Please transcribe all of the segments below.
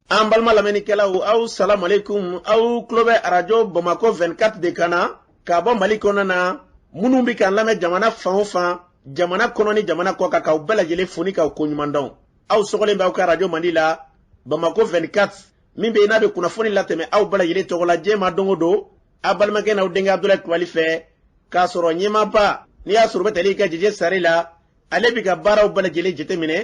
an balima lamɛnnikɛlaw aw salamu aleykum aw tulo bɛ arajo bamakɔ 24 de kan na ka bɔ mali kɔnɔ na minnu bɛ k'an lamɛn jamana fan o fan jamana kɔnɔ ni jamana kɔ kan k'aw bɛɛ lajɛlen fo ni k'aw koɲuman dɔn aw sɔgɔlen b'aw ka arajo mandi la bamakɔ 24 min bɛ yen n'a bɛ kunnafoni latɛmɛ aw bɛɛ lajɛlen tɔgɔ la diɲɛ ma don o don a balimakɛ n'aw denkɛ abudulayi kulubali fɛ k'a sɔrɔ ɲɛmaaba n'i y'a sɔrɔ o bɛ tali kɛ jɛjɛ sari la ale bɛ ka baaraw bɛɛ lajɛlen jateminɛ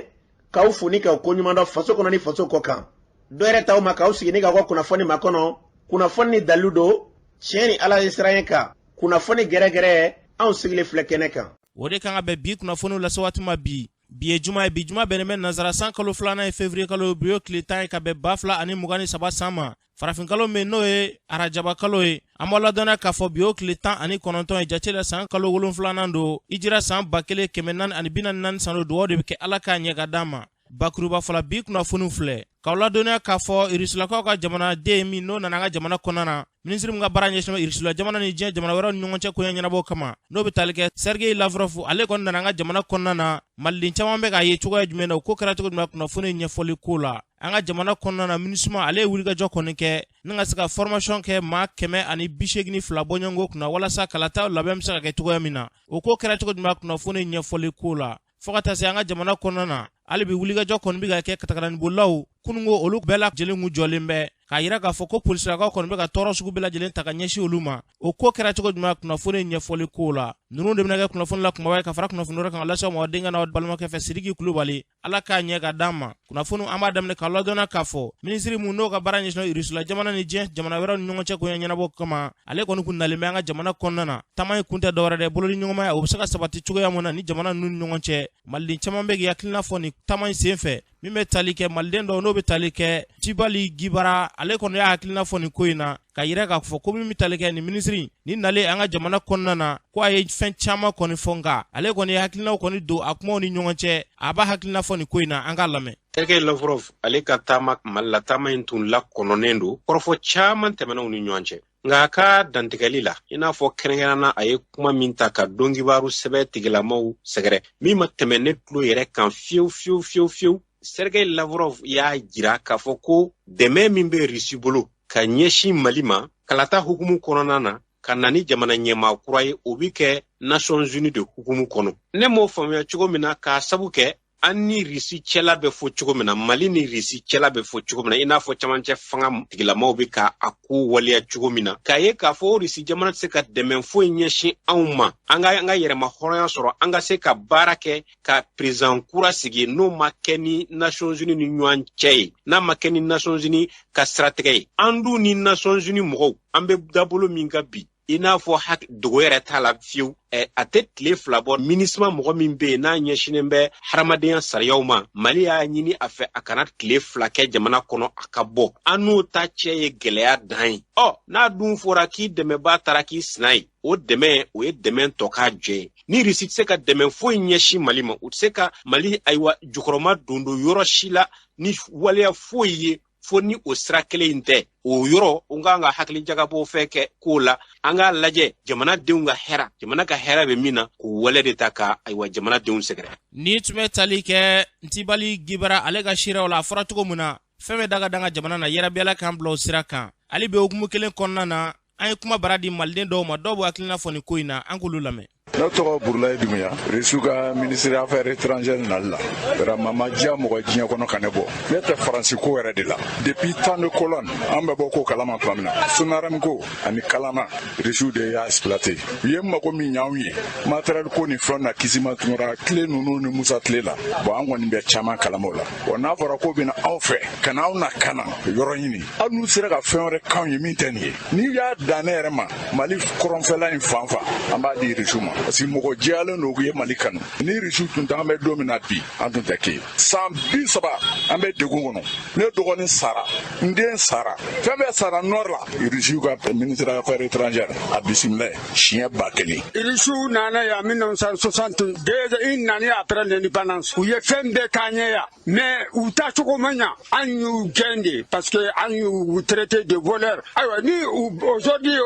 k'aw fo ni k'aw koɲuman dɔn faso kɔnɔ ni faso kɔ kan dɔ yɛrɛ t'aw ma k'aw sigi ni k'aw ka kunnafoni makɔnɔ kunnafoni ni dalilu don tiɲɛ ni ala ɲɛsiranɲɛ kan kunnafoni gɛrɛgɛrɛ anw sigilen filɛ kɛnɛ kan o de kan ka bɛn bi kunnafoniw lase waati ma bi bi ye juma ye bi juma bɛnnen bɛ nansara san kalo filanan ye fevriye kalo bi y'o tile tan ye ka bɛn ba fila ani mugan ni saba san ma farafinkalo min n'o ye arajabakalo ye an b'a ladɔnniya k'a fɔ bi y'o tile tan ani kɔnɔntɔn ye jate la san kalo wolonfilanan don hijira san ba kelen kɛmɛ naani ani bi naani ni naani san don dugaw de bɛ kɛ ala k'a ɲɛ ka d'an ma bakurubafɔ la bi kunnafoniw filɛ k'aw ladɔnniya k'a fɔ irisilakaw ka jamanaden min n'o nana an ka jamana kɔnɔna na minisiri min ka baara ɲɛsinna irisula jamana ni diɲɛ jamana wɛrɛw ni ɲɔgɔn cɛ koɲɛ ɲɛnabɔ kama n'o bɛ tali kɛ sergei lavrɔfu ale kɔni nana an ka jamana kɔnɔna na maliden caman bɛ k'a ye cogoya jumɛn na o ko kɛra cogo jumɛn kunnafoni ɲɛfɔli ko la an ka jamana kɔnɔna na minisuma ale ye wulikajɔ kɔni kɛ ni ka se ka fɔrmasiyɔn kɛ maa kɛmɛ ani bi segin ni fila bɔɲɔgɔnko kunna walasa kalataw labɛn bɛ se ka kɛ cogoya min na o ko kɛra cogo jumɛn kunnafoni ɲɛfɔli ko la fo ka taa se an ka jamana kɔnɔna na hali bi wulikajɔ kɔni bɛ ka kɛ katakataninbolilaw kununko olu bɛɛ lajɛlen kun jɔlen bɛ k'a yira k'a fɔ ko polisilakaw kɔni bɛ ka tɔɔrɔ sugu bɛɛ lajɛlen ta ka ɲɛsin olu ma o ko kɛra cogo jumɛn kunnafoni ɲɛfɔli ko la ninnu de bɛna kɛ kunnafoni la kumaba ye ka fara kunnafoni wɛrɛ kan ka lase aw ma aw denkɛ n'aw balimakɛ fɛ sidiki kulubali ala k'a ɲɛ ka d'an ma kunnafoniw an b'a daminɛ k'a ladɔnniya k'a fɔ minisiri mun n'o ka baara ɲɛsinna irisula jamana ni diɲɛ jamana wɛrɛw ni ɲɔgɔn cɛ koɲɛ ɲɛnabɔ kama ale kɔni kun nalen bɛ an ka jamana kɔnɔna na taama in kun tɛ dɔwɛrɛ dɛ bolodiɲɔgɔnmaya o be se ka sabati cogoya mun na ni jamana nunu ni ɲɔgɔn cɛ maliden caaman be k'i hakilina fɔ nin taama in sen fɛ min be tali kɛ maliden dɔ n'o be tali kɛ tibali gibara ale kɔni y'a hakilina fɔ nin ko in na k'a yira k'a fɔ ko min bɛ tali kɛ nin minisiri in nalen an ka jamana kɔnɔna na ko a ye fɛn caman kɔni fɔ nka ale kɔni ye hakilinaw kɔni don a kumaw ni ɲɔgɔn cɛ a b'a hakilina fɔ nin ko in na an k'a lamɛn Sergei Lavrov ale ka taama Mali la taama in tun lakɔnɔnen don kɔrɔfɔ caman tɛmɛnenw ni ɲɔgɔn cɛ nka a ka dantigɛli la i n'a fɔ kɛrɛnkɛrɛnna a ye kuma min ta ka donkibaru sɛbɛ tigilamaw sɛgɛrɛ min ma tɛmɛ ne tulo yɛrɛ kan fiyewu fiyewu fiyewu fiyewu sergei lavrov y'a jira k'a fɔ ko dɛmɛ min bɛ risi bolo ka ɲɛsin mali ma kalata hukumu kɔnɔna na ka na ni jamana ɲɛmaa kura ye o bɛ kɛ nations unies de hukumu kɔnɔ ne m'o faamuya cogo min na k'a sabu kɛ an ni risi cɛla bɛ fɔ cogo min na mali ni risi cɛla bɛ fɔ cogo min na i n'a fɔ camancɛ fanga tigilamaw bɛ ka a ko waleya cogo min na k'a ye k'a fɔ risi jamana tɛ se ka dɛmɛ foyi ɲɛsin anw ma an ka an ka yɛrɛmahɔrɔnya sɔrɔ an ka se ka baara kɛ ka perezan kura sigi n'o ma kɛ ni nations unies ni ɲɔgɔn cɛ ye n'a ma kɛ ni nations unies ka siratigɛ ye an dun ni nations unies mɔgɔw an bɛ dabolo min kan bi i n'a fɔ dogo yɛrɛ t'a la fiyewu a tɛ tile fila bɔ minisima mɔgɔ min bɛ yen n'a ɲɛsinnen bɛ hadamadenya sariyaw ma mali y'a ɲini a fɛ a kana tile fila kɛ jamana kɔnɔ a ka bɔ an n'o ta cɛ ye gɛlɛya dan ye ɔ n'a dun fɔra k'i dɛmɛbaa taara k'i sina ye o dɛmɛ o ye dɛmɛ tɔkajɛ ye ni risi tɛ se ka dɛmɛ foyi ɲɛsin mali ma u tɛ se ka mali ayiwa jukɔrɔma don don yɔrɔ si la ni waleya foyi ye fo ni o sira kelen in tɛ o yɔrɔ o k'an ka hakili jagabɔ fɛ kɛ ko la an k'a lajɛ jamanadenw ka hɛra jamana ka hɛra bɛ min na k'o wale de ta ka ayiwa jamanadenw sɛgɛrɛ ni tun bɛ tali kɛ ntibali gibara ale ka siraw la a fɔra cogo min na fɛn bɛ daga danga jamana na yɛrɛ bi ala k'an bila o sira kan hali bi hukumu kelen kɔnɔna na an ye kuma bara di maliden dɔw ma dɔw b'u hakilina fɔ nin ko in na an k'olu lamɛn ne tɔgɔ burulayi dunbuya risiw ka minisiri affaire étrangère nali la vraiment ma diya mɔgɔ diɲɛ kɔnɔ ka ne bɔ ne tɛ faransi ko yɛrɛ de la depuis temps de colon an bɛ bɔ ko kalama tuma min na sonarɛm ko ani kalana risiw de y'a exploité u ye mago min ɲ'anw ye matériel ko ni fɛnw na kisima tunkara tile ninnu ni musa tile la bon an kɔni bɛ caman kalama o la wa n'a fɔra k'u bɛna anw fɛ ka na anw na ka na yɔrɔ ɲini hali n'u sera ka fɛn wɛrɛ k'anw ye min tɛ nin ye n'i y'a dan ne yɛrɛ ma mali kɔrɔnfɛla in fan fan an b'a di irisiw ma parce que mɔgɔ jɛyalen don u ye mali kanu ni irisiw tun t'an bɛ don min na bi an tun tɛ kɛ san bi saba an bɛ degun kɔnɔ ne dɔgɔnin sara n den sara fɛn bɛɛ sara nɔri la irisiw ka ministre affaire étrangère a bisimila siɲɛ ba kelen irisiw nana yan mille neuf cent soixante déjà u nana après l'indépendance u ye fɛn bɛɛ k'an ye yan mais u ta cogo ma ɲa an y'u gɛn de parce que an y'u traité de voleur ayiwa ni aujourd'hui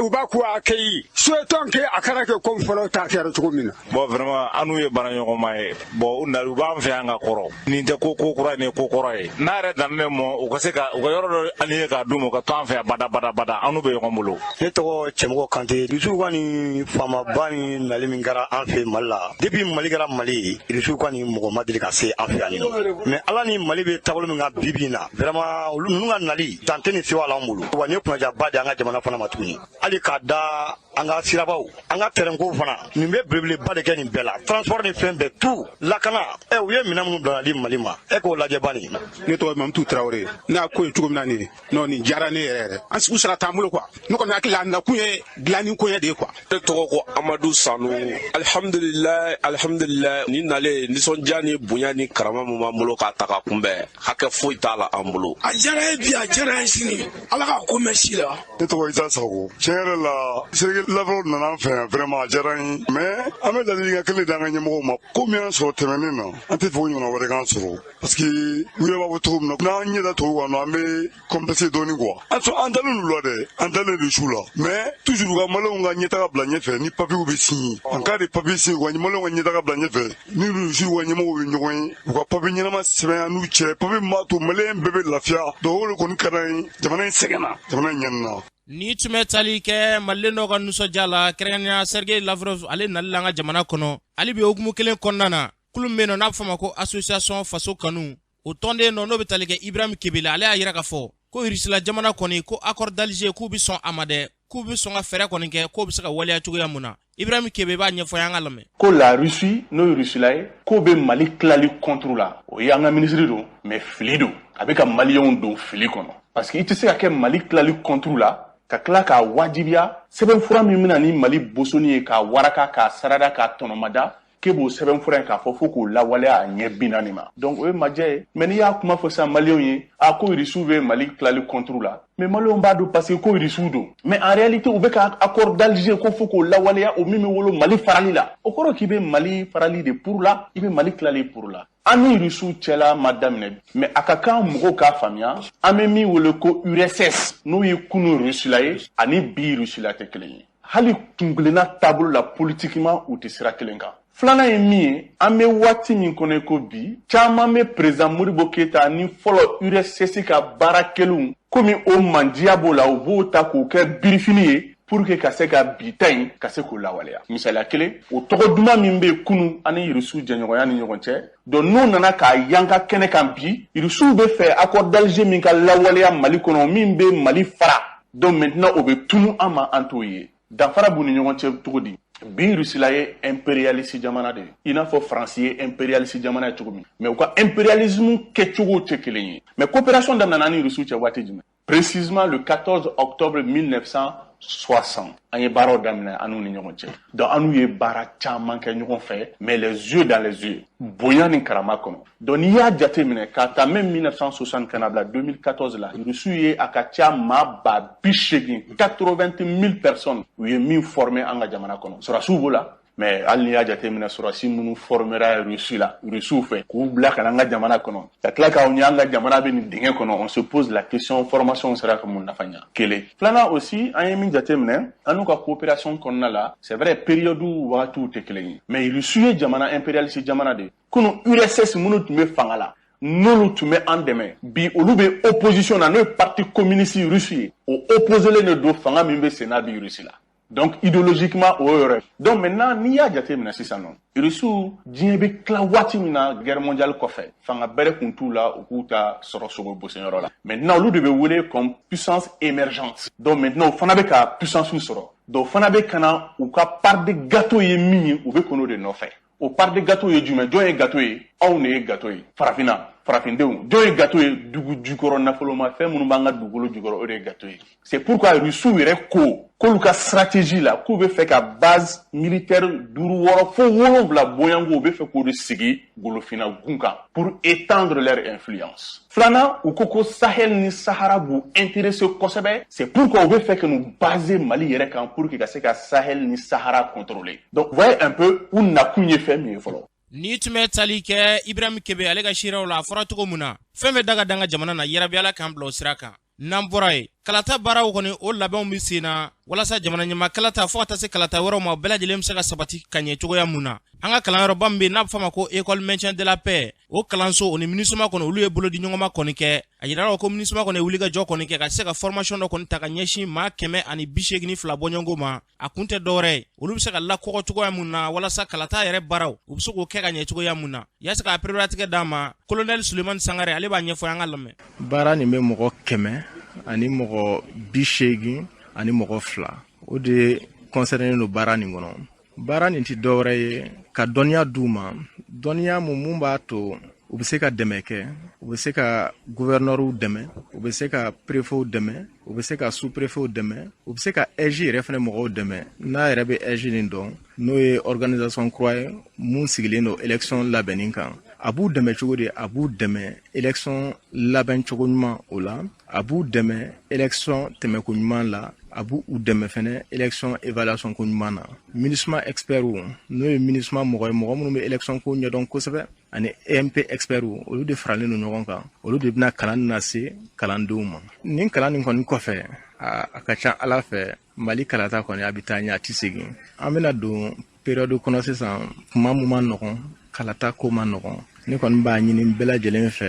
u bɛ k'u accueilli souhaitons que a kana kɛ comme fɔlɔ ta kɛra cogo min na bon vraiment an n'u ye baara ɲɔgɔnma ye bon u na u b'an fɛ yan ka kɔrɔ nin tɛ ko ko kura nin ko kɔrɔ ye n'a yɛrɛ dan ne ma u ka se ka u ka yɔrɔ dɔ an ye k'a d'u ma u ka to an fɛ bada bada bada an n'u bɛ ɲɔgɔn bolo ne tɔgɔ cɛmɔgɔ kante irisiw ka nin faamaba nin nali min kɛra an fɛ mali la depuis mali kɛra mali ye irisiw ka nin mɔgɔ ma deli ka se an fɛ yan mais ala ni mali bɛ taabolo min kan bi bi in na vraiment olu ninnu ka nali dan tɛ ni sewa la an bolo wa nin ye kunnadiyaba di an ka jamana fana ma tuguni hali k'a da an ka sirabaw an ka tɛrɛnkow fana nin bɛ belebeleba de kɛ nin bɛɛ la transport ni fɛn bɛɛ tout lakana ɛ u ye minɛn minnu bila di mali ma e k'o lajɛ bani ne tɔgɔ mamutu tarawele ne y'a ko ye cogo min na nin nɔ nin diyara ne yɛrɛ yɛrɛ an sigiw sara t'an bolo quoi ne kɔni hakili la a nakun ye dilanni koɲɛ de ye quoi ne tɔgɔ ko amadu sanu alihamdulilayi alihamdulilayi nin nali nisɔndiya ni bonya ni karama min b'an bolo ka taa k'a kunbɛn hakɛ foyi t'a la an bolo a diyara ye bi a diyara ye sini ala ka ko mɛn si la Ne tɔgɔ Isa Sago tiɲɛ yɛrɛ la sergei lavrov nana an fɛ yan vraiment a diyara n ye mɛ an bɛ ladilikan kelen d'an ka ɲɛmɔgɔw ma ko min y'an sɔrɔ tɛmɛnen na an tɛ fɛ o ɲɔgɔnna wɛrɛ k'an sɔrɔ parce que u yɛrɛ b'a fɔ cogo min na n'an ɲɛ da tubabu kan an bɛ complexé dɔɔni quoi a sɔrɔ an dalen l'u la dɛ an dalen rusiw la mɛ toujours u ka maliyɛnw ka ɲɛtaga bila ɲɛfɛ ni papiw bɛ signer en cas de papi signer u ka maliyɛnw ka ɲɛtaga bila ɲɛfɛ ni rusiw ka ɲɛmɔgɔw ye ɲɔgɔn ye u ka papi ɲɛnama sɛbɛn an n'u cɛ papi min b'a to maliyɛn bɛɛ bɛ lafiya donc o le kɔni ka d'an ye jamana in sɛgɛnna jamana in ɲɛnina nin tun bɛ tali kɛ maliden dɔ ka nisɔndiya la kɛrɛnkɛrɛnnenya sergei lavrov ale nali la an ka jamana kɔnɔ hali bi hukumu kelen kɔnɔna na kulu min bɛ yen nɔ n'a bɛ fɔ a ma ko association faso kanu o tɔnden dɔ n'o bɛ tali kɛ ibrahim kebe la ale y'a yira k'a fɔ ko irisila jamana kɔni ko accord d'alger k'u bɛ sɔn a ma dɛ k'u bɛ sɔn ka fɛɛrɛ kɔni kɛ k'o bɛ se ka waleya cogoya mun na ibrahim kebe b'a ɲɛfɔ an k'a lamɛn ko la rusi n'o ye rusila ye k'o bɛ mali tilali kɔnturu la o ye an ka minisiri don mɛ fili don a bɛ ka maliyɛnw don fili kɔnɔ parce que i tɛ se ka kɛ mali tilali kɔnturu la ka tila k'a wajibiya sɛbɛnfura min bɛna ni mali bosonni ye k'a waraka k'a sarada k'a tɔnɔmada k'e b'o sɛbɛnfura in k'a fɔ fo k'o lawaleya a ɲɛ binaani ma donc o ye majɛ ye mɛ n'i y'a kuma fɔ sisan maliyɛnw ye a ko irisiw bɛ mali tilali kɔnturu la mɛ maliyɛnw b'a don parce que ko irisiw don mɛ en réalité u bɛ ka accord d'alger ko fo k'o lawaleya o min bɛ wolo mali farali la o kɔrɔ k'i bɛ mali farali de pour la i bɛ mali tilali pour la an ni irisiw cɛla ma daminɛ bi mɛ a ka kan mɔgɔw k'a faamuya an bɛ min wele ko urss n'o ye kunu irusila ye ani bi irusila tɛ kelen ye hali kunkelenna taabolo la politikiman u tɛ sira kelen kan filanan ye min ye an bɛ waati min kɔnɔ ko bi caman bɛ perezidan modibo keyita ni fɔlɔ urss ka baara kɛlenw komi o mandiya b'o la u b'o ta k'o kɛ birifini ye pour que ka se ka bi ta in ka se k'o lawaleya misaliya kelen o tɔgɔ duman min bɛ kunu ani irisiw jɛɲɔgɔnya ni ɲɔgɔn cɛ donc n'u nana k'a yanka kɛnɛ kan bi irisiw bɛ fɛ accord d'alger min ka lawaleya mali kɔnɔ min bɛ mali fara donc maintenant o bɛ tunu an ma an t'o ye danfara b'u ni ɲɔgɔn cɛ cogo di bi rusila ye imperialisi jamana de ye i n'a fɔ faransi ye imperialisi jamana ye cogo min mɛ u ka imperialismu kɛcogow tɛ kelen ye mɛ coopération daminɛna an ni rusiw cɛ waati jumɛn Précisément le 14 octobre 1960, an ye baaraw daminɛ an n'u ni ɲɔgɔn cɛ donc an n'u ye baara caman kɛ ɲɔgɔn fɛ mais les yeux dans les yeux bonya ni karama kɔnɔ donc n'i y'a jate minɛ k'a ta mɛ 1960 ka na bila 2014 la rusiw ye a ka ca maa ba bi seegin 80 000 personnes u ye min former an ka jamana kɔnɔ sɔrasiw b'o la mais hali n'i y'a jateminɛ sɔrɔdasi minnu fɔrɔmera rusi la rusiw fɛ k'u bila ka na an ka jamana kɔnɔ ka tila k'a ye an ka jamana bɛ nin dingɛ kɔnɔ on se pose la question formation sera ka mun nafa ɲa kelen filanan aussi an ye min jateminɛ an n'u ka coopération kɔnɔna la c'est vrai période wagatiw tɛ kelen ye mais rusiw ye jamana impérialiste jamana de kunu urss minnu tun bɛ fanga la n'olu tun bɛ an dɛmɛ bi olu bɛ opposition na n'o ye parti communiste russe ye o opposelen de don fanga min bɛ senna bi rusi la donc idéologiquement o yɔrɔ donc maintenant n'i y'a jate minɛ sisan nɔ irisiw diɲɛ bɛ tila waati min na guerre mondiale kɔfɛ fanga bɛrɛ kun t'u la u k'u ta sɔrɔ sogo bosenyɔrɔ la maintenant olu de bɛ wele comme puissance émergente donc maintenant u fana bɛ ka puissance sɔrɔ donc u fana bɛ ka na u ka part de gâteau ye min ye u bɛ ka n'o de nɔfɛ o part de gâteau ye jumɛn jɔn ye gato ye anw ne ye gato ye farafinna farafindenw jɔn ye gato ye dugu jukɔrɔ nafolomafɛn minnu b'an ka dugukolo jukɔrɔ o de ye gato ye c'est pourquoi rusiw yɛrɛ ko k'olu ka stratégie la k'u bɛ fɛ ka base militaire duuru wɔɔrɔ fo wolonwula bɔɲɔgɔnko u bɛ fɛ k'o de sigi golofinna gun kan pour étendre leur influence filanan u ko ko sahel ni sahara b'u interese kosɛbɛ c'est pourquoi u bɛ fɛ ka n'u baser mali yɛrɛ kan pour que ka se ka sahel ni sahara contrôler donc voyez un peu u nakun ye fɛn min ye fɔlɔ nin tun bɛ tali kɛ ibrahim kebe ale ka siraw la a fɔra cogo mun na fɛn bɛ daga d'an ka jamana na yarabi ala k'an bila o sira kan n'an bɔra ye kalata baaraw kɔni o labɛnw bɛ sen na walasa jamana ɲɛmaa kalata fo ka taa se kalata wɛrɛw ma bɛɛ lajɛlen bɛ se ka sabati ka ɲɛ cogoya mun na an ka kalanyɔrɔba min bɛ n'a bɛ f'a ma ko école maintien de la paix o kalanso o ni minusma kɔni olu ye bolodiɲɔgɔnma kɔni kɛ a yirala ko minusma kɔni ye wulikajɔ kɔni kɛ ka se ka formation dɔ kɔni ta ka ɲɛsin maa kɛmɛ ani bi seegin fila bɔɲɔgɔnko ma a kun tɛ dɔwɛrɛ ye olu bɛ se ka lakɔgɔ cogoya mun na walasa kalata yɛrɛ baaraw u bɛ se k'o kɛ ka ɲɛ cogoya mun na yaasa k'a pereperelatigɛ d'a ma kolonɛli sulemani sangare ale b'a ɲɛfɔ an k'a lamɛn baara nin bɛ mɔgɔ kɛmɛ ani mɔgɔ bi seegin ani mɔgɔ fila o de kɔnsɛrɛnen don baara nin kɔnɔ baara nin tɛ dɔwɛrɛ ye ka dɔnniya d'u ma dɔnniya mun mun b'a to u bɛ se ka dɛmɛ kɛ u bɛ se ka guvɛrinɛriw dɛmɛ u bɛ se ka perefew dɛmɛ u bɛ se ka superefew dɛmɛ u bɛ se ka ɛzi yɛrɛ fɛnɛ mɔgɔw dɛmɛ n'a yɛrɛ bɛ ɛzi nin dɔn n'o ye organisation kura ye mun sigilen don election labɛnni kan a b'u dɛmɛ cogo di a b'u dɛmɛ election labɛn cogo ɲuman o la a b'u dɛmɛ election tɛmɛko ɲuman la a b'u dɛmɛ fɛnɛ election évaluation ko ɲuman na minusma expertw n'o ye minusma mɔgɔ ye mɔgɔ minnu bɛ election ko ɲɛdɔn kosɛbɛ ani emp expertw olu de faralen don ɲɔgɔn kan olu de bɛna kalan lase kalandenw ma nin kalan nin kɔni kɔfɛ a ka ca ala fɛ mali kalata kɔni a bɛ taa ɲɛ a tɛ segin an bɛna don periyɔdu kɔnɔ sisan kuma mun ma nɔgɔn kalata ko ma nɔgɔn ne kɔni b'a ɲini bɛɛ lajɛlen fɛ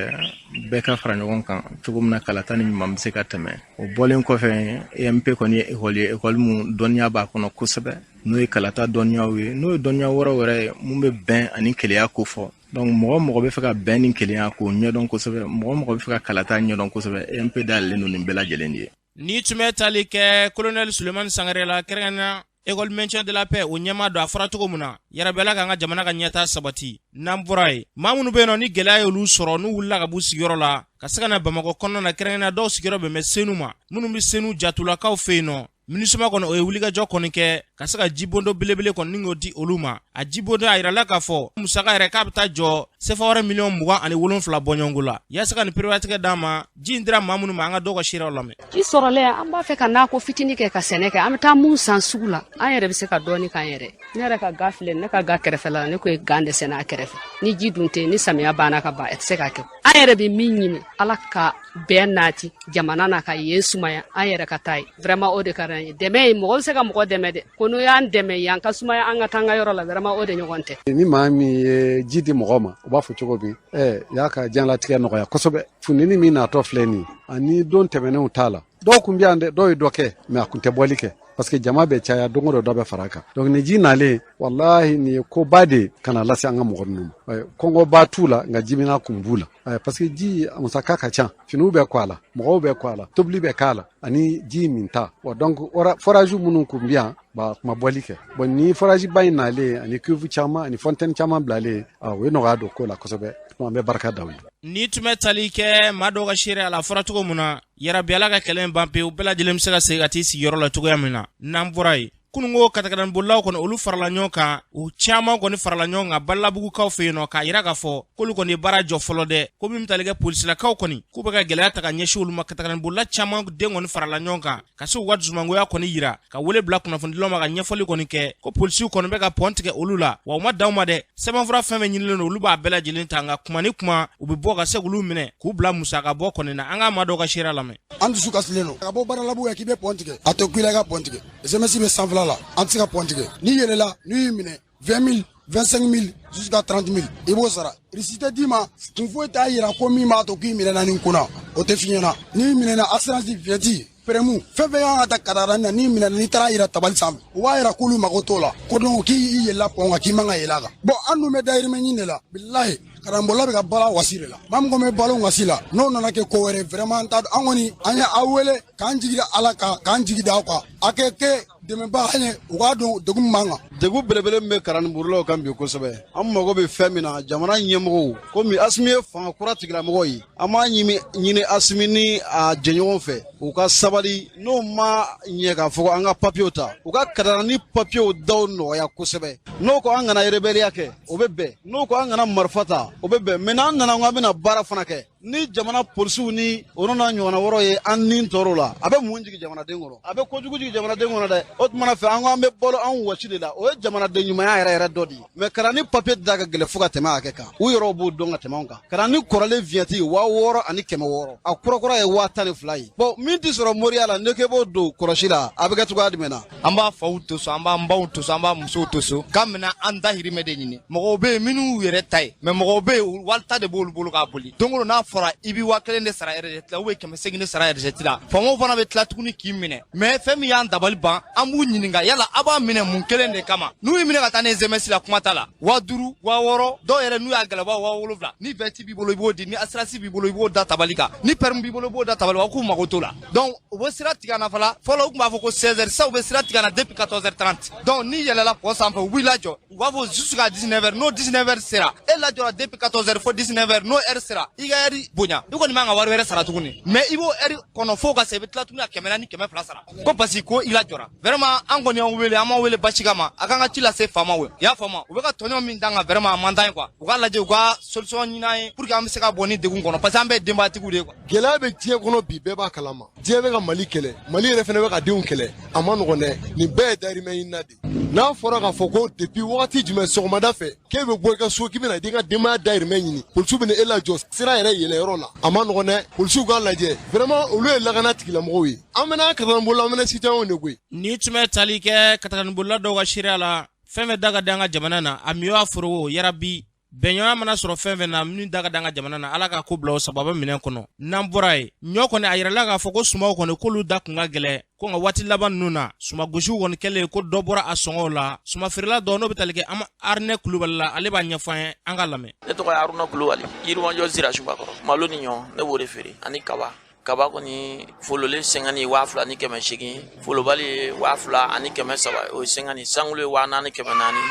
bɛɛ ka fara ɲɔgɔn kan cogo min na kalata ni ɲuman bɛ se ka tɛmɛ o bɔlen kɔfɛ emp kɔni ye ekɔli ye ekɔli mun dɔnniya b'a kɔnɔ kosɛbɛ n'o ye kalata dɔnniyaw ye n'o ye dɔnniya wɛrɛ wɛrɛ ye mun bɛ bɛn ani kelenya ko fɔ donc mɔgɔ mɔgɔ bɛ fɛ ka bɛn ni kelenya k'o ɲɛdɔn kosɛbɛ mɔgɔ mɔgɔ bɛ fɛ ka kalata ɲɛdɔn kosɛbɛ emp dayɛlɛlen don nin bɛɛ lajɛlen de ye Nin tun bɛ tali kɛ kolonɛli Sulemani Sangare la kɛrɛnkɛrɛnnenya école maintien de la paix o ɲɛmaa don a fɔra cogo min na yarabi Ala k'an ka jamana ka ɲɛtaa sabati n'an bɔra yen maa minnu bɛ yen nɔ ni gɛlɛya y'olu sɔrɔ n'u wulila ka b'u sigiyɔrɔ la ka se ka na Bamakɔ kɔnɔna na kɛrɛnkɛrɛnnenya dɔw sigiyɔrɔ bɛn bɛ Senu ma minnu bɛ Senu jatulakaw fɛ yen nɔ Minusima kɔni o ye wulikajɔ kɔni kɛ ka se ka jibondo belebele kɔni ni k'o di olu ma a jibondo a yirala k'a fɔ musaka yɛrɛ k'a bɛ taa jɔ sefa wari miliyɔn mugan ani wolonfila bɔɲɔgɔnko la yaasa ka nin perewatigɛ d'a ma ji in dira maa minnu ma an ka dɔw ka seerew lamɛn ji sɔrɔlen an b'a fɛ ka nakɔ fitini kɛ ka sɛnɛ kɛ an bɛ taa mun san sugu la an yɛrɛ bɛ se ka dɔɔni k'an yɛrɛ ne yɛrɛ ka ga filɛ ne ka ga kɛrɛfɛ la ne kun ye gan de sɛnɛ a kɛrɛfɛ ni ji dun tɛ ni samiya banna ka ban a tɛ se ka kɛ an yɛrɛ bɛ min ɲini ala ka bɛn nati jamana na ka yen sumaya an yɛrɛ ka taa yen vraiment o de ka d'an ye dɛmɛ ye mɔgɔ bɛ se ka mɔgɔ dɛmɛ dɛ ko n'o y'an dɛmɛ yen ka sumaya an ka taa an ka yɔrɔ la vraiment o de ɲɔgɔn tɛ ni maa min ye ji di mɔgɔ ma u b'a fɔ cogo min ɛ y'a ka diɲɛlatigɛ nɔgɔya kosɛbɛ funteni min natɔ filɛ nin ani don tɛmɛnenw t'a la dɔw kun bɛ yan dɛ dɔw ye dɔ kɛ mais a kun tɛ bɔli kɛ parce que jama bɛ caya don o don dɔ bɛ fara a kan donc ni ji nalen walahi nin ye koba de ka na lase an ka mɔgɔ ninnu ma eh, kɔngɔba t'u la nka jimina kun b'u la eh, parce que ji musaka ka ca finiw bɛ ko a la mɔgɔw bɛ ko a la tobili bɛ k'a la ani ji minta donc forage minnu kun bɛ yan ba a kun ma bɔli kɛ bon ni forage ba in nalen ani cuve caman ani fontaine caman bilalen ah, o ye nɔgɔya don ko la kosɛbɛ an bɛ barika da u ye nin tun bɛ tali kɛ maa dɔw ka seereya la a fɔra cogo min na yarabi ala ka kɛlɛ ban pewu bɛɛ lajɛlen bɛ se ka segin ka t'i sigiyɔrɔ la cogoya min na n'an bɔra yen kununko katakatanibolilaw kɔni olu farala ɲɔgɔn kan u caman kɔni farala ɲɔgɔn kan badalabugukaw fɛ yen nɔ k'a yira k'a fɔ k'olu kɔni ye baara jɔ fɔlɔ dɛ ko min bɛ tali kɛ polisilakaw kɔni k'u bɛ ka gɛlɛya ta ka ɲɛsin olu ma katakatanibolila caman de kɔni farala ɲɔgɔn kan ka se u ka dusumangoya kɔni yira ka wele bila kunnafonidilaw ma ka ɲɛfɔli kɔni kɛ ko polisiw kɔni bɛ ka pɔn tigɛ olu la wa u ma dan o ma dɛ sɛbɛnfura fɛn fɛn ɲinilen don olu b'a bɛɛ lajɛlen ta nka kuma ni kuma u bɛ bɔ ka se k'olu minɛ k'u bila musaka bɔ kɔni na an ka maa dɔw ka seereya lamɛn an dusu kasilen don ka bɔ badalabugu yan k'i bɛ pɔn tigɛ a tɛ kun i la i ka pɔn tigɛ GMS bɛ sanfɛla la an tɛ se ka pɔn tigɛ n'i yɛlɛla n'u y'i minɛ 20000 25000 jusqu'à 30000 i b'o sara reçu tɛ d'i ma kun foyi t'a yira ko min b'a to k'i minɛna nin kun na o tɛ f'i ɲɛna n'i minɛna assurance vignette permis fɛn fɛn y'an katakatani na n'i minɛna n'i taara a yira tabali sanfɛ u b'a yira k'olu mago t'o la ko donc k'i i yɛlɛla pɔn kan k'i man ka yɛlɛ a kan bon an dun bɛ dayirimɛ ɲini de la bilahi katanibolila bɛ ka balo wɔsi de la maa min bɛ balo wɔsi la n'o nana kɛ ko wɛrɛ vraiment an t'a dɔn an kɔni an ye aw wele k'an jigi da ala kan k'an jigi da aw kan a ka kɛ dɛmɛbaa an ye u k'a dɔn degun min b'an kan degun belebele min bɛ katanibolilaw kan bi kosɛbɛ an mago bɛ fɛn min na jamana ɲɛmɔgɔw komi asimi ye fanga kura tigilamɔgɔ ye an b'a ɲini asimi ni a jɛɲɔgɔn fɛ u ka sabali n'o ma ɲɛ k'a fɔ an ka papiyew ta u ka katakatani papiyew daw nɔgɔya kosɛbɛ n'u ko an kana rebɛliya kɛ o bɛ bɛn n'u ko an kana marifa ta o bɛ bɛn mɛ n'an nana ko an bɛna baara fana kɛ ni jamana polisiw ni o n'a ɲɔgɔnna wɔɔrɔ ye an ni tɔɔrɔ la a bɛ mun jigin jamanaden kɔnɔ a bɛ kojugu jigin jamanaden kɔnɔ dɛ o tuma fɛ an ko an bɛ balo an wɔsi de la o ye jamanaden ɲumanya yɛrɛ yɛrɛ dɔ de ye mɛ katani papiye da ka gɛlɛn fo ka tɛmɛ hakɛ kan u yɛrɛw b'o dɔn ka tɛmɛ an kan katani kɔrɔlen viɲɛti waa wɔɔrɔ ani kɛmɛ wɔɔrɔ a kurakura ye waa tan ni fila ye bon min tɛ sɔrɔ moriya la n'e k'e b'o don kɔlɔsi la a bɛ kɛ cogoya jumɛn na an b'an faw to so an b'an baw to so an b'an musow to so k'an bɛna an dahirimɛ de ɲini mɔgɔw be yen minw yɛrɛ ta ye mɛ mɔgɔw be yen wali ta de b'olu bolo k'a boli don o don n'a fɔra i bɛ waa kelen de sara resɛti la ubiyɛn kɛmɛ segin de sara resɛti la faamaw fana be tila tuguni k'i minɛ mɛ fɛn min y'an dabali ban an b'u ɲininka yala a b'a minɛ mun kelen de kama n'u y'i minɛ ka taa ni gms la kuma t'a la waa duru waa wɔɔrɔ dɔw yɛrɛ n'u y'a gɛlɛya waa wolonfila ni viɲɛti b'i bolo i b'o di ni asiransi b'i bolo i b'o da tabali kan ni pɛrmi b'i bolo i b'o da tabali kan k'u mago t'o la dɔnku u bɛ sira tigɛ na fɔlɔ u tun b'a fɔ ko seize heures sisan u bɛ sira tigɛ na depuis quatorze heures trente dɔnku n'i yɛlɛla kɔ sanfɛ u b'i lajɔ u b'a fɔ jusqu'à dix-neuf heures n'o dix-neuf heures sera e lajɔra depuis quatorze heures fo dix-neuf heures n'o heure sera i ka heure bonya i kɔni man ka wari wɛrɛ sara tuguni mɛ i b'o heure kɔnɔ fo ka se i bɛ tila ka kɛmɛ ni kɛmɛ fila sara ko parce que ko i lajɔra vraiment an kɔni y'aw wele an m'aw wele basi ma a k'an ka ci lase faamaw ye i y'a faamu u bɛ ka tɔɲɔ min d'an kan vraiment a man d'an ye kuwa u k'a lajɛ u ka solution ɲini an ye pour que an bɛ se ka bɔ nin degun kɔnɔ parce que an bɛɛ denbatigiw de kuwa gɛlɛya bɛ diɲɛ kɔnɔ bi bɛɛ b'a kalama diɲɛ bɛ ka mali kɛlɛ mali yɛrɛ fana bɛ k'a denw kɛlɛ a man nɔgɔn dɛ nin bɛɛ ye dayirimɛ ɲinina de n'a fɔra k'a fɔ ko depuis wagati jumɛn sɔgɔmada fɛ k'e bɛ bɔ i ka so k'i bɛna i ka denbaya dayirimɛ ɲini polisiw bɛna e lajɔ sira yɛrɛ yɛlɛyɔrɔ la a man nɔgɔn dɛ polisiw k'a lajɛ vraiment olu ye lakana tigilamɔgɔw ye an fana katakatanibolila an fana citoyenw de koyi nin tun bɛ tali kɛ katakatanibolila dɔw ka seereya la fɛn fɛn da ka di an ka jamana na a miyɔ a forogo yarabi bɛnɲɔgɔnya mana sɔrɔ fɛn fɛn na min da ka d'an ka jamana na ala ka ko bila o sababa minɛn kɔnɔ n'an bɔra yen ɲɔ kɔni a yirala k'a fɔ ko sumaw kɔni k'olu da tun ka gɛlɛn ko nka waati laban ninnu na sumangosiw kɔni kɛlen kɔ dɔ bɔra a sɔngɔw la sumafeerela dɔ n'o bɛ tali kɛ an aruna kulubali la ale b'a ɲɛfɔ an ye an k'a lamɛn ne tɔgɔ ye aruna kulubali yirimajɔ zira suguba kɔrɔ malo ni ɲɔ ne b'o de feere ani kaba kaba kɔni fololen cinquante waa fila ni kɛmɛ segin folobali ye waa fila ani kɛmɛ saba o ye cinquante cent kilos ye waa naani kɛmɛ naani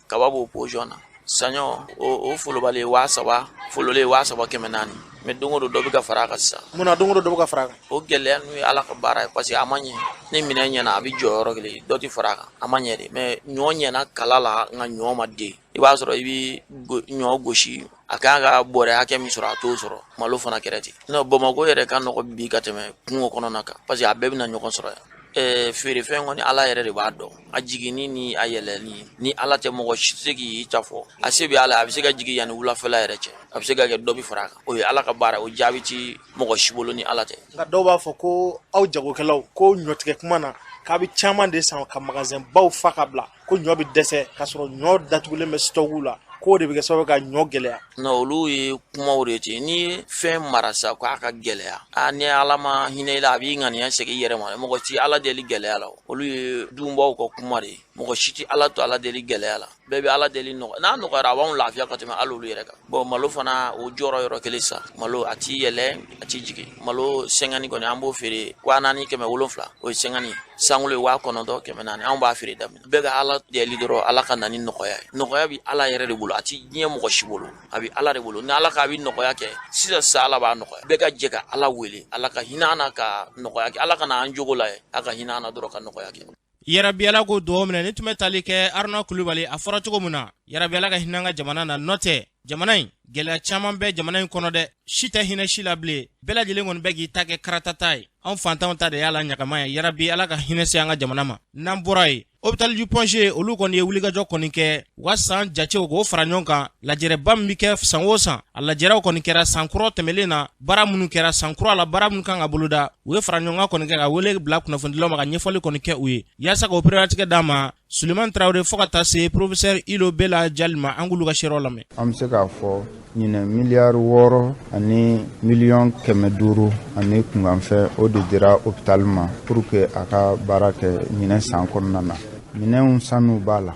kaba b'o position na saɲɔ o folobali waa saba fololen waa saba kɛmɛ naani mɛ don o don dɔ bɛ ka fara a kan sisan mun na don o don dɔ bɛ ka fara a kan o gɛlɛya ninnu ye ala ka baara ye paseke a ma ɲɛ ni minɛn ɲɛna a bɛ jɔ yɔrɔ kelen dɔ tɛ fara a kan a ma ɲɛ de mɛ ɲɔ ɲɛna kala la nka ɲɔ ma den i b'a sɔrɔ i bɛ ɲɔ gosi a kan ka bɔrɛ hakɛ min sɔrɔ a t'o sɔrɔ malo fana kɛra ten non bamakɔ yɛrɛ ka nɔgɔ bi ka tɛmɛ kungo kɔnɔna kan paseke a bɛɛ bɛna ɲɔgɔn sɔrɔ yan ɛɛ feerefɛn kɔni ala yɛrɛ de b'a dɔn a jiginni ni a yɛlɛnni ni ala tɛ mɔgɔ si tɛ se k'i ta fɔ a se bɛ ala a bɛ se ka jigin yanni wulafɛla yɛrɛ cɛ a bɛ se ka kɛ dɔ bɛ fara a kan o ye ala ka baara o jaabi ti mɔgɔ si bolo ni ala tɛ nka dɔw b'a fɔ ko aw jagokɛlaw ko ɲɔtigɛ kuma na k'a bɛ caman de san ka magasin baw fa ka bila ko ɲɔ bɛ dɛsɛ k'a sɔrɔ ɲɔ datugulen bɛ sitɔku la k'o de bɛ kɛ sababu ka ɲɔ gɛlɛya non olu ye kumaw de ten n'i ye fɛn mara sa k'a ka gɛlɛya a ni ala ma hinɛ i la a b'i ŋaniya segin i yɛrɛ ma mɔgɔ si t'ala deli gɛlɛya la olu ye dunbaw ka kuma de ye mɔgɔ si tɛ ala to ala deli gɛlɛya la bɛɛ bɛ ala deli nɔgɔ n'a nɔgɔyara a b'anw lafiya ka tɛmɛ hali olu yɛrɛ kan bɔn malo fana o jɔra yɔrɔ kelen sa malo a ti yɛlɛ a ti jigin malo cinquante kɔni an b'o feere waa naani kɛmɛ wolonfila o ye cinquante cent kilo ye waa kɔnɔntɔn kɛmɛ naani anw b'a feere da min na bɛɛ ka ala deli dɔrɔn ala ka na ni nɔgɔya ye nɔgɔya bi ala yɛrɛ de bolo a ti diɲɛ mɔgɔ si bolo a bi ala de bolo ni ala k'a bi nɔgɔya kɛ sisan sisan ala b'a nɔgɔya bɛɛ ka jɛ ka ala wele ala ka hinɛ an na ka nɔgɔya kɛ ala kana an jogo lajɛ a ka hinɛ an na dɔrɔn ka nɔgɔya kɛ yarabi ala k'o dugaw minɛ nin tun bɛ tali kɛ aruna kulubali a fɔra cogo min na yarabi ala ka hinɛ an ka jamana na n'o tɛ jamana in gɛlɛya caman bɛ jamana in kɔnɔ dɛ si tɛ hinɛ si la bilen bɛɛ lajɛlen kɔni bɛ k'i ta kɛ karatata ye anw fantanw ta de y'a la ɲagama ye yarabi ala ka hinɛ se an ka jamana ma n'an bɔra yen hôpital du point g olu kɔni ye wulikajɔ kɔni kɛ u ka san jatew k'o fara ɲɔgɔn kan lajɛrɛba min bɛ kɛ san o san a lajɛrɛw kɔni kɛra san kura tɛmɛlen na baara minnu kɛra san kura la baara minnu kan ka boloda u ye faraɲɔgɔnkan kɔni kɛ ka wele bila kunnafonidilaw ma ka ɲɛfɔli kɔni kɛ u ye yaasa k'o pereperelatigɛ d'a ma suleman tarawele fo ka taa se porofesɛri ilo bela jali ma an k'olu ka seerew lamɛn an bɛ se k'a fɔ ɲinɛ miliyari wɔɔrɔ ani miliyɔn kɛmɛ duuru ani kunkanfɛn o de dira hopitali ma pour que a ka baara kɛ ɲinɛ san kɔnɔna na minɛnw sanniw b'a la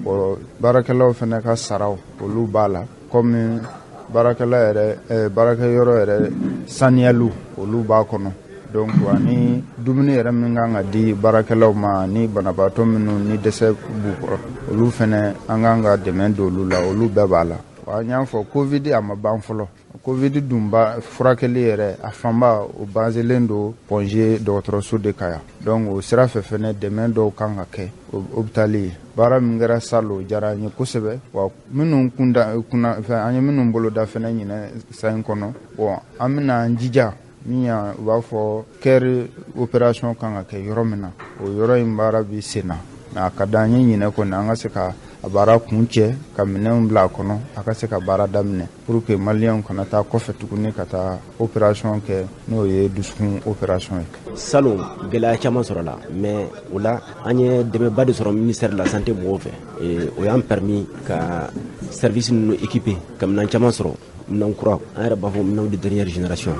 o baarakɛlaw fana ka saraw olu b'a la kɔmi baarakɛyɔrɔ yɛrɛ saniyaliw olu b'a kɔnɔ donc ani dumuni yɛrɛ min kan ka di baarakɛlaw ma ni banabaatɔ minnu ni dɛsɛ b'u kɔrɔ olu fana an kan ka dɛmɛ don olu la olu bɛɛ b'a la an y'a fɔ kovidi a ma ban fɔlɔ kovidi dunba furakɛli yɛrɛ a fanba o bazelen don point g dɔgɔtɔrɔso de kan yan donc o sira fɛ fɛnɛ dɛmɛ dɔw kan ka kɛ hopitali ye baara min kɛra salo o jara an ye kosɛbɛ wa minnu kunda kunna fɛn an ye minnu boloda fɛnɛ ɲinɛ san in kɔnɔ bɔn an bɛna an jija min y'a u b'a fɔ cœur opération kan ka kɛ yɔrɔ min na o yɔrɔ in baara bi sen na mais a ka di an ye ɲinɛ kɔni an ka se ka a baara kuncɛ ka minɛnw bila a kɔnɔ a ka se ka baara daminɛ pour que maliyɛnw kana taa kɔfɛ tuguni ka taa opération kɛ n'o ye dusukun opération ye salon gɛlɛya caman sɔrɔla mais o la an ye dɛmɛba de sɔrɔ ministère de la santé mɔgɔw fɛ o y'an permis ka service ninnu équiper ka minɛn caman sɔrɔ minɛn kura an yɛrɛ b'a fɔ minɛnw de dernière génération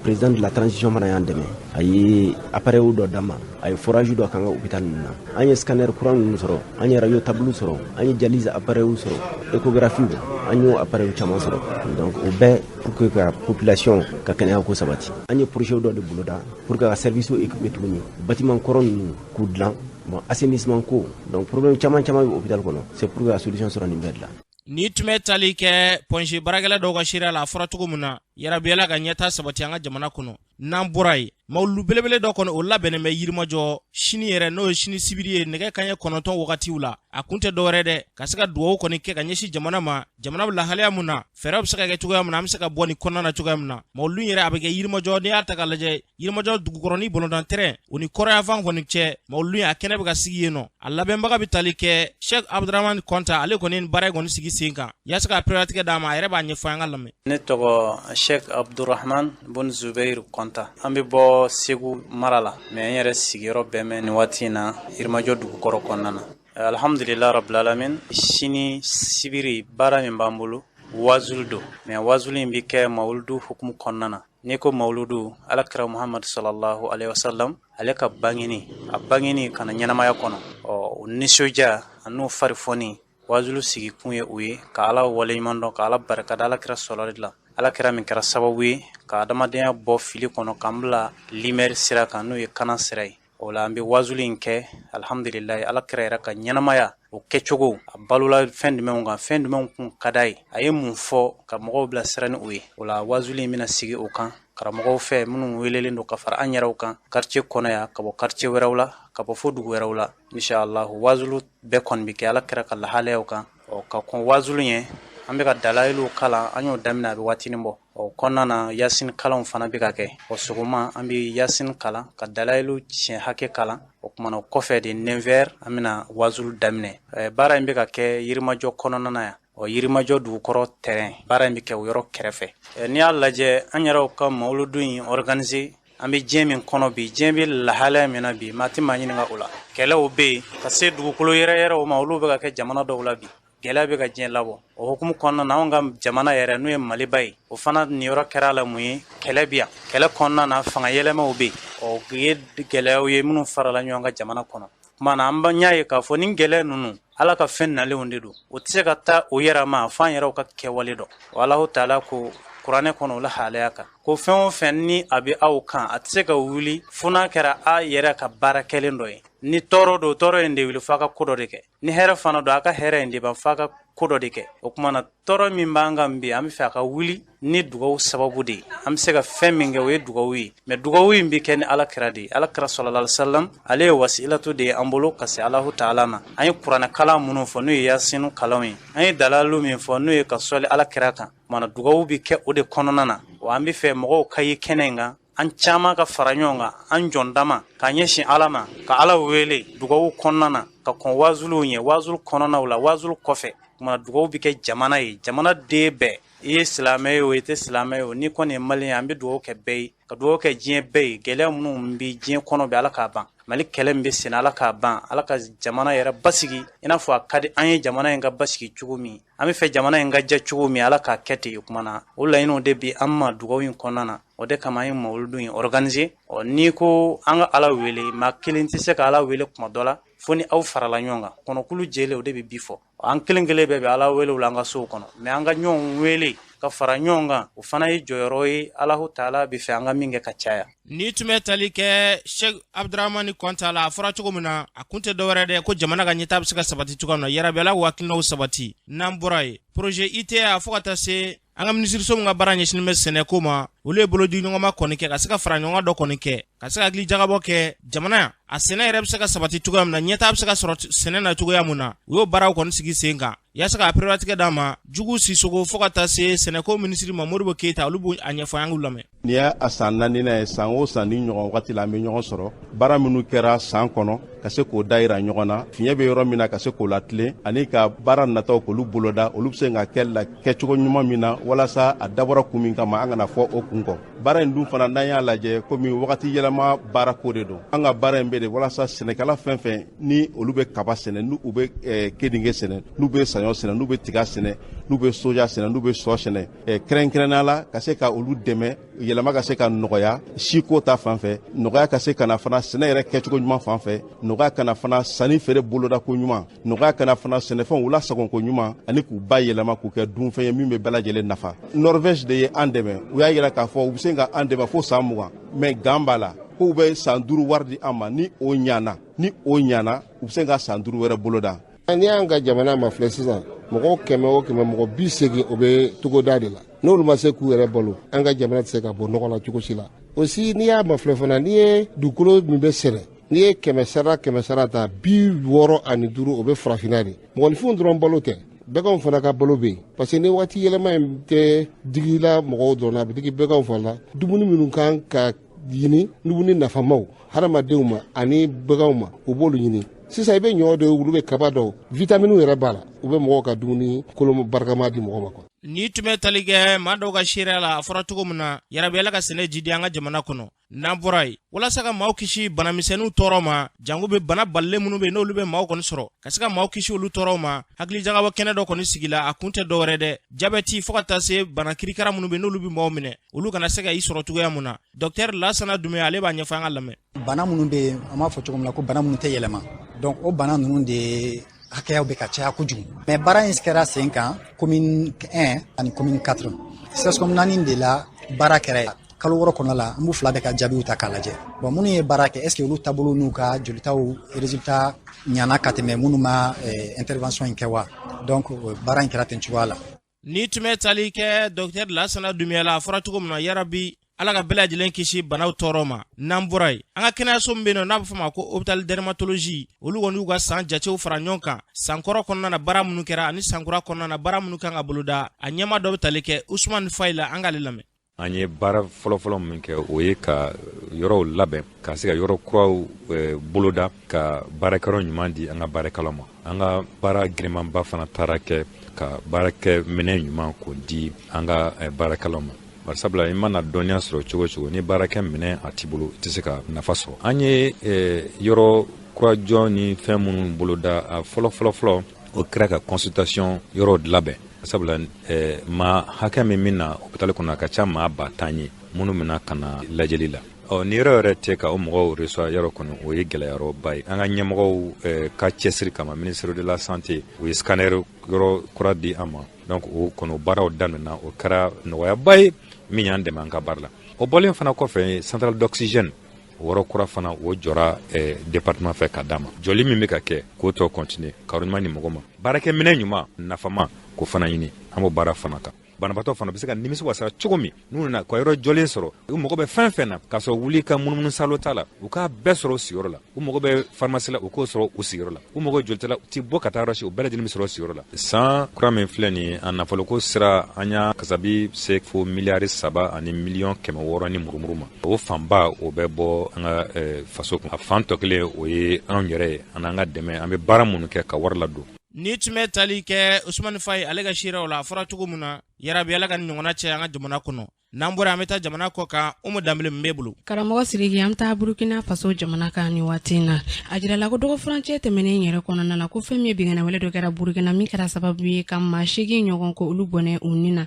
président de la transition fana y'an dɛmɛ a ye appareil dɔ d'an ma a ye forage dɔ k'an ka hôpital ninnu na an ye scanner kura ninnu sɔrɔ an ye radio tabliw sɔrɔ an ye dialyse appareil sɔrɔ échographie an y'o appareil caman sɔrɔ donc o bɛɛ pour que ka population ka kɛnɛya ko sabati an ye projet dɔ de boloda pour que ka service équiper tuguni bâtiment kɔrɔ ninnu k'u dilan bon assainissement ko donc problème caman caman bɛ hôpital kɔnɔ c'est pour que ka solution sɔrɔ nin bɛɛ de la Nin tun bɛ tali kɛ point G baarakɛla dɔw ka seereya la a fɔra cogo min na yarabi ala ka ɲɛta sabati an ka jamana kɔnɔ n'an bɔra yen mawulu belebele dɔ kɔni o labɛnnen bɛ yirimajɔ sini yɛrɛ n'o ye sini sibiri ye nɛgɛ kanɲɛ kɔnɔntɔn wagatiw la a kun tɛ dɔ wɛrɛ dɛ ka se ka dugawu kɔni kɛ ka ɲɛsin jamana ma jamana bɛ lahalaya min na fɛɛrɛ bɛ se ka kɛ cogoya min na an bɛ se ka bɔ nin kɔnɔna na cogoya min na mawulu yɛrɛ a bɛ kɛ yirimajɔ n'i y'a ta k'a lajɛ yirimajɔ dugukɔrɔni balɔntan tɛrɛn o ni kɔrɔnyanfan kɔni cɛ mawulu in a kɛnɛ bɛ ka sigi yen nɔ a labɛnbaga bɛ tali kɛ sheikh abdurahman kɔnta ale kɔni baara in kɔni sigi sen kan yaasa ka perelatigɛ d'an ma a yɛrɛ b'a ɲɛfɔ an k'a lamɛn ne tɔgɔ sheikh abdurahman bun zubeir kɔnta an bɛ bɔ segu mara la mais n yɛrɛ sigiyɔrɔ bɛ bɛn nin waati in na yirimajɔ dugukɔrɔ kɔnɔna na alhamdulillah rabbil alamin sini sibiri baara min b'an bolo wazulu don mais wazulu in bɛ kɛ mawuludu hukumu kɔnɔna na N'i ko mawuludu ala kira muhamadu salalahu aleyi wasalam ale ka bangeni a bangeni ka na ɲɛnamaya kɔnɔ ɔ o nisɔndiya an'o farifoni wazulu sigikun ye o ye ka ala waleɲuman dɔn ka ala barika da ala kira sɔrɔli la ala kira min kɛra sababu ye ka adamadenya bɔ fili kɔnɔ k'an bila lumière sira kan n'o ye kana sira ye o la an bɛ wazuli in kɛ alihamdulilayi ala kira yɛrɛ ka ɲɛnamaya o kɛcogo a balola fɛn jumɛnw kan fɛn jumɛnw kun ka d'a ye a ye mun fɔ ka mɔgɔw bilasira ni o ye o la wazuli in bɛna sigi o kan karamɔgɔw fɛ minnu welelen don ka fara an yɛrɛw kan quartier kɔnɔ yan ka bɔ quartier wɛrɛw la ka bɔ fo dugu wɛrɛw la inshallahu wazulu bɛɛ kɔni bɛ kɛ ala kira ka lahalayaw kan ɔ ka kɔn wazulu ɲɛ an bɛ ka dalayilu kalan an y'o daminɛ a bɛ waatinin bɔ o kɔnɔna na yasin kalanw fana bɛ ka kɛ o sɔgɔma an bɛ yasin kalan ka dalayilu siɲɛ hakɛ kalan o kumana kɔfɛ de neuf heures an bɛna wazulu daminɛ eh, baara in bɛ ka kɛ yirimajɔ kɔnɔna na yan o yirimajɔ dugukɔrɔ tɛrɛn baara in bɛ kɛ o yɔrɔ kɛrɛfɛ eh, n'i y'a lajɛ an yɛrɛw ka mawuludu in organiser an bɛ diɲɛ min kɔnɔ bi diɲɛ bɛ lahalaya min na bi maa tɛ maa ɲininka o la kɛlɛw bɛ yen ka se dugukolo yɛrɛyɛrɛw ma olu bɛ ka kɛ jamana dɔw la bi gɛlɛya bɛ ka diɲɛ labɔ o hukumu kɔnɔna na anw ka jamana yɛrɛ n'o ye maliba ye o fana niyɔrɔ kɛra la mun ye kɛlɛ bi yan kɛlɛ kɔnɔna na fanga yɛlɛmaw bɛ yen o ye gɛlɛyaw ye minnu farala ɲɔgɔn kan jamana kɔnɔ kuma na an y'a ye k'a fɔ ni gɛlɛya ninnu Ala ka fɛn nalenw de don o tɛ se ka taa o yɛrɛ ma fo an yɛrɛw ka kɛwale dɔ wa Alahu taala ko kuranɛ kɔnɔ o lahalaya kan ko fɛn o fɛn ni a bɛ aw kan a tɛ se ka wuli fo n'a kɛra a yɛrɛ ka baara kɛlen dɔ ye ni tɔɔrɔ don tɔɔrɔ in tɛ wuli f'a ka ko dɔ de kɛ ni hɛrɛ fana don a ka hɛrɛ in tɛ ban f'a ka ko dɔ de kɛ o kuma na tɔɔrɔ min b'an kan bi an bɛ fɛ a ka wuli ni dugawu sababu de ye an bɛ se ka fɛn min kɛ o ye dugawu ye mais dugawu in bɛ kɛ ni ala kira de ye ala kira salalahu alayhi wasalam ale ye wasilatu de ye an bolo ka se alahu taala ma an ye kuranɛ kalan minnu fɔ n'o ye yasinu kalanw ye an ye dalalu min fɔ n'o ye ka sɔli ala kira kan kuma na dugawu bɛ kɛ o de kɔnɔna na wa an bɛ fɛ mɔgɔw ka ye kɛnɛ in kan an caman ka fara ɲɔgɔn kan an jɔn dama k'an ɲɛsin ala ma ka ala wele dugawu kɔnɔna na ka kɔn wazuliw ɲɛ wazulu kɔnɔnaw la wazulu kɔfɛ kuma na dugawu bɛ kɛ jamana ye jamana den bɛɛ i ye silamɛ ye o i tɛ silamɛ ye o n'i kɔni ye maliyɛn ye an bɛ dugawu kɛ bɛɛ ye ka dugawu kɛ diɲɛ bɛɛ ye gɛlɛya minnu bɛ diɲɛ kɔnɔ bi ala k'a ban mali kɛlɛ min bɛ sen na ala k'a ban ala ka jamana yɛrɛ basigi i n'a fɔ a ka di an ye jamana in ka basigi cogo min an bɛ fɛ jamana in ka jɛ cogo min ala k'a kɛ ten o kuma na o laɲiniw de bi an ma dugawu in kɔnɔna na o de kama an ye mawludu in organiser ɔ n'i ko an ka Ala wele maa kelen tɛ se ka Ala wele tuma dɔ la fo ni aw farala ɲɔgɔn kan kɔnɔkulu jɛlen o de bɛ bii fɔ an kelen kelen bɛɛ bɛ Ala wele o la an ka sow kɔnɔ mais an ka ɲɔgɔn wele ka fara ɲɔgɔn kan o fana ye jɔyɔrɔ ye Alahu taala bɛ fɛ an ka min kɛ ka caya. N'i tun bɛ tali kɛ Sɛki Abudramani Kɔnta la a fɔra cogo min na a kun tɛ dɔwɛrɛ dɛ ko jamana ka ɲɛtaa bɛ se ka sabati cogoya min na yarabi Ala k'u hakilinaw sabati n'an bɔra yen projet ITA fo ka taa se an ka minisiriso min ka baara ɲɛsinnen bɛ sɛnɛko ma olu ye bolodiɲɔgɔnma kɔni kɛ ka se ka fara ɲɔgɔn dɔ kɔni kɛ ka se ka hakili jagabɔ kɛ jamana a sɛnɛ yɛrɛ bɛ se ka sabati cogoya min na ɲɛtaa bɛ se ka sɔrɔ sɛnɛ na cogoya min na u y'o baaraw kɔni sigi sen kan yasa ka perelatigɛ d'an ma jugu sisɔkɔ fɔɔ ka taa se sɛnɛko minisiri ma modibo keyita olu b'o a ɲɛfɔ an k'u lamɛn Nin y'a san naaninan ye san o san nin ɲɔgɔn wagati la an bɛ ɲɔgɔn sɔrɔ baara minnu kɛra san kɔnɔ ka se k'o dayira ɲɔgɔn na fiɲɛ bɛ yɔrɔ min na ka se k'o latilen ani ka baara nataw k'olu boloda olu bɛ se ka kɛ la kɛcogo ɲuman min na walasa a dabɔra kun min kama an kana fɔ o kun kɔ baara in dun fana n'an y'a lajɛ komi wagati yɛlɛma baara ko de don an ka baara in bɛ de walasa sɛnɛkɛla fɛn o fɛn ni olu bɛ kaba sɛnɛ n'u bɛ eh, keninge sɛnɛ n'u bɛ saɲɔ sɛnɛ n'u bɛ tiga sɛnɛ n'u bɛ soja sɛnɛ n'u bɛ sɔ sɛnɛ Eh, kɛrɛnkɛrɛnnenya la ka se ka olu dɛmɛ yɛlɛma ka se ka nɔgɔya siko ta fan fɛ nɔgɔya ka se ka na fana sɛnɛ yɛrɛ kɛcogo ɲuman fan fɛ nɔgɔya ka na fana sanni feere bolodako ɲuman nɔgɔya ka na fana sɛnɛfɛnw lasagonko ɲuman ani k'u bayɛlɛma k'u kɛ dunfɛn ye min bɛ bɛɛ lajɛlen nafa norvège de ye an dɛmɛ u y'a yira k'a fɔ u bɛ se ka an dɛmɛ fo san mugan mais gan b'a la k'u bɛ san duuru wari di an ma ni o ɲana ni o ɲana u bɛ se ka san duuru wɛrɛ boloda n'i y'an ka jamana mafilɛ sisan mɔgɔw kɛmɛ o kɛmɛ mɔgɔ bi segin o bɛ togoda de la n'olu ma se k'u yɛrɛ balo an ka jamana tɛ se ka bɔ nɔgɔ la cogo si la aussi n'i y'a mafilɛ fana n'i ye dugukolo min bɛ sɛnɛ n'i ye kɛmɛ sara kɛmɛ sara ta bi wɔɔrɔ ani duuru o bɛ farafinna de mɔgɔninfinw dɔrɔn balo tɛ bɛganw fana ka balo bɛ yen parce que ni waati yɛlɛma in tɛ digila mɔgɔw dɔrɔn na a bɛ digi bɛganw fana la dumuni minnu kan ka ɲini dumuni nafamaw hadamadenw ma ani baganw ma u b'olu ɲini sisan i bɛ ɲɔ dɔw olu bɛ kaba dɔw vitaminiw yɛrɛ b'a la u bɛ mɔgɔw ka dumuni kolo barikama di mɔgɔ ma quoi ni tun bɛ tali kɛ maa dɔw ka seereya la a fɔra cogo min na yarabi ala ka sɛnɛ jidi an ka jamana kɔnɔ n'an bɔra yen walasa ka maaw kisi banamisɛnninw tɔɔrɔ ma jango bɛ bana balilen minnu bɛ n'olu bɛ maaw kɔni sɔrɔ ka se ka maaw kisi olu tɔɔrɔ ma hakilijagabɔ kɛnɛ dɔ kɔni sigila a kun tɛ dɔwɛrɛ dɛ jabɛti fo ka taa se bana kirikara minnu be n'olu be mɔgɔw minɛ olu kana se ka i sɔrɔ cogoya mun na dɔktɛr lasana dumbuya ale b'a ɲɛfɔ an ka lamɛn bana minnu be yen an b'a fɔ cogo min na ko bana minnu tɛ yɛlɛma donc o bana ninnu de hakɛyaw be ka caya kojugu mais baara in kɛra sen kan commune 1 ani commune 4 cscom naani de la baara kɛra kalo wɔɔrɔ kɔnɔna la an b'u fila bɛɛ ka jaabiw ta k'a lajɛ bon minnu ye baara kɛ est ce que olu taabolo n'u ka jolitaw résultat ɲana ka tɛmɛ minnu ma eh, intervention in kɛ wa donc baara in kɛra ten cogoya la ni tun bɛ tali kɛ docteur lasana dumbuya la a fɔra cogo min na yarabi ala ka bɛɛ lajɛlen kisi banaw tɔɔrɔ ma n'an bɔra yen an ka kɛnɛyaso min be yen n'a be fɔ ma ko hôpital dermatologie olu kɔni y'u ka san jatew fara ɲɔgɔn kan sankɔrɔ kɔnɔna na baara minnu kɛra ani sankura kɔnɔna na baara minnu kan ka boloda a ɲɛma dɔ be tali kɛ usman fayi la an k'ale lamɛn an ye baara fɔlɔfɔlɔ min kɛ o ye ka yɔrɔw labɛn ka se ka yɔrɔ kuraw eh, boloda ka baarakɛyɔrɔ ɲuman di an ka baarakɛlaw ma an ka baara girimanba fana taara kɛ ka baarakɛ minɛn ɲuman k'o di an ka eh, baarakɛlaw ma bari sabula i mana dɔnniya sɔrɔ cogo cogo ni baarakɛ minɛn a t'i bolo i tɛ se ka nafa sɔrɔ an ye eh, yɔrɔ kura jɔni fɛn minnu boloda a fɔlɔ fɔlɔ fɔlɔ o kɛra ka consultation yɔrɔ labɛn sabula eh, maa hakɛ min bɛ na hopitali kɔnɔ a ka ca maa ba tan ye minnu bɛ na ka na lajɛli la ɔ ni yɔrɔ yɛrɛ tɛ ka o mɔgɔw reçoit yɔrɔ kɔni o ye gɛlɛyayɔrɔba ye an ka ɲɛmɔgɔw eh, ka cɛsiri kama ministère de la santé u ye scanner yɔrɔ kura di an ma donc o kɔnɔ baaraw daminɛna o kɛra nɔgɔyaba ye min y'an dɛmɛ an ka baara la o bɔlen fana kɔfɛ centrale d'oxygène yɔrɔ kura fana o jɔra eh, département fɛ ka d'a ma jɔli min bɛ ka kɛ k'o tɔ kɔntine ka yɔrɔ ɲuman di mɔgɔ ma baarakɛminɛn ɲuman nafama k'o fana ɲini an b'o baara fana kan banabaatɔ fana bɛ se ka nimisi wasara cogo min n'u nana ka yɔrɔ jɔlen sɔrɔ u mago bɛ fɛn fɛn na k'a sɔrɔ wuli ka munumunu salo t'a la u k'a bɛɛ sɔrɔ u sigiyɔrɔ la u mago bɛ farimasi la u k'o sɔrɔ u sigiyɔrɔ la u mago jolita la u ti bɔ ka taa yɔrɔ si u bɛɛ lajɛlen bɛ sɔrɔ u sigiyɔrɔ la san kura min filɛ nin a nafoloko sira an y'a kasabi se fo miliyari saba ani miliyɔn kɛmɛ wɔɔrɔ ni murumuru ma o fanba o bɛ bɔ an ka faso kun a fan tɔ kelen o ye anw yɛrɛ ye an n'an ka dɛmɛ an bɛ baara minnu kɛ ka wari ladon nin tun bɛ tali kɛ usumani fayi ale ka siraw la a fɔra cogo min na yarabi ala ka nin ɲɔgɔnna caya an ka jamana kɔnɔ n'an bɔra an bɛ taa jamana kɔ kan umu danbele b'e bolo karamɔgɔ siriki an taa burukina faso jamana kan nin waati in na a jirala ko dɔgɔ furancɛ tɛmɛnen yɛrɛ kɔnɔna na ko fɛn min ye binkanniwale dɔ kɛra burukina min kɛra sababu ye ka maa seegin ɲɔgɔn ko olu bɔnɛ u ni na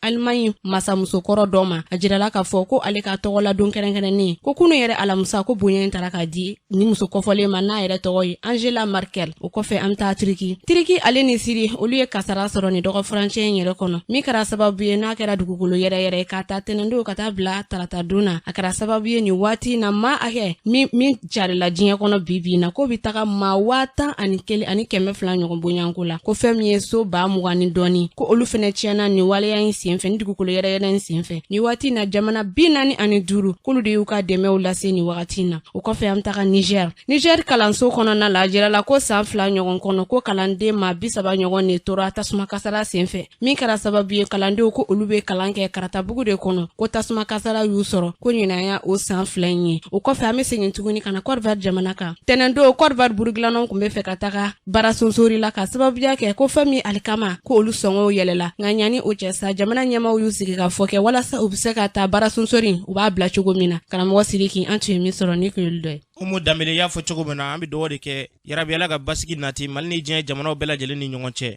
alimaɲi masamusokɔrɔ dɔ ma a jirala k'a fɔ ko ale ka tɔgɔladon kɛrɛnkɛrɛnnen ko kunu yɛrɛ alamusa ko bonya in tara k'a di nin muso kofɔlen ma n'a yɛrɛ tɔgɔ ye angela merkel o kɔfɛ an bɛ taa turiki turiki ale ni siri olu ye kasara sɔrɔ nin dɔgɔ furancɛ in yɛrɛ kɔnɔ min kɛra sababu ye n'a kɛra dugukolo yɛrɛyɛrɛ k'a ta tɛnɛndon ka taa bila taratadon na a kɛra sababu ye nin waati na maa hakɛ min carila diɲɛ kɔnɔ bi bi na ko be taga maa waa tan ani kelen ani kɛmɛ fila ɲɔgɔn bonyanko la ko fɛn min ye so ba mugan ni dɔɔni ko olu fɛnɛ tiɲɛna nin waleya in sen fɛ nin dugukolo yɛrɛyɛrɛ in sen fɛ nin waati na jamana bi naani ani duuru k'olu de y'u ka dɛmɛw lase nin wagati na o kɔfɛ an taga nigɛr nigɛr kalanso kɔnɔna la a jirala ko san fila ɲɔgɔn kɔnɔ ko kalanden maa bisaba ɲɔgɔn ne tora tasuma kasara sen fɛ min kɛra sababu ye kalandenw ko olu be kalan kɛ karatabugu de kɔnɔ ko tasuma kasara y'u sɔrɔ ko ɲinan ye o san fila in ye o kɔfɛ an be segin tuguni ka na kɔdiwari jamana kan tɛnɛndon kɔdiwari burugilannaw kun be fɛ ka taga baara sonsori la ka sababuya kɛ ko fɛn min ye alikama ko olu sɔngɔw yɛlɛla nka ɲani o cɛ sa jamana ɲɛmaw y'u sigi ka fɔ kɛ walasa u be se ka taa baara sonsori u b'a bila cogo min na karamɔgɔ sidiki an tun ye min sɔrɔ nin kun y'olu dɔ ye umu danbele y'a fɔ cogo min na an be dugawu de kɛ yarabi ala ka basigi nati mali ni diɲɛ jamanaw bɛɛ lajɛlen ni ɲɔgɔn cɛ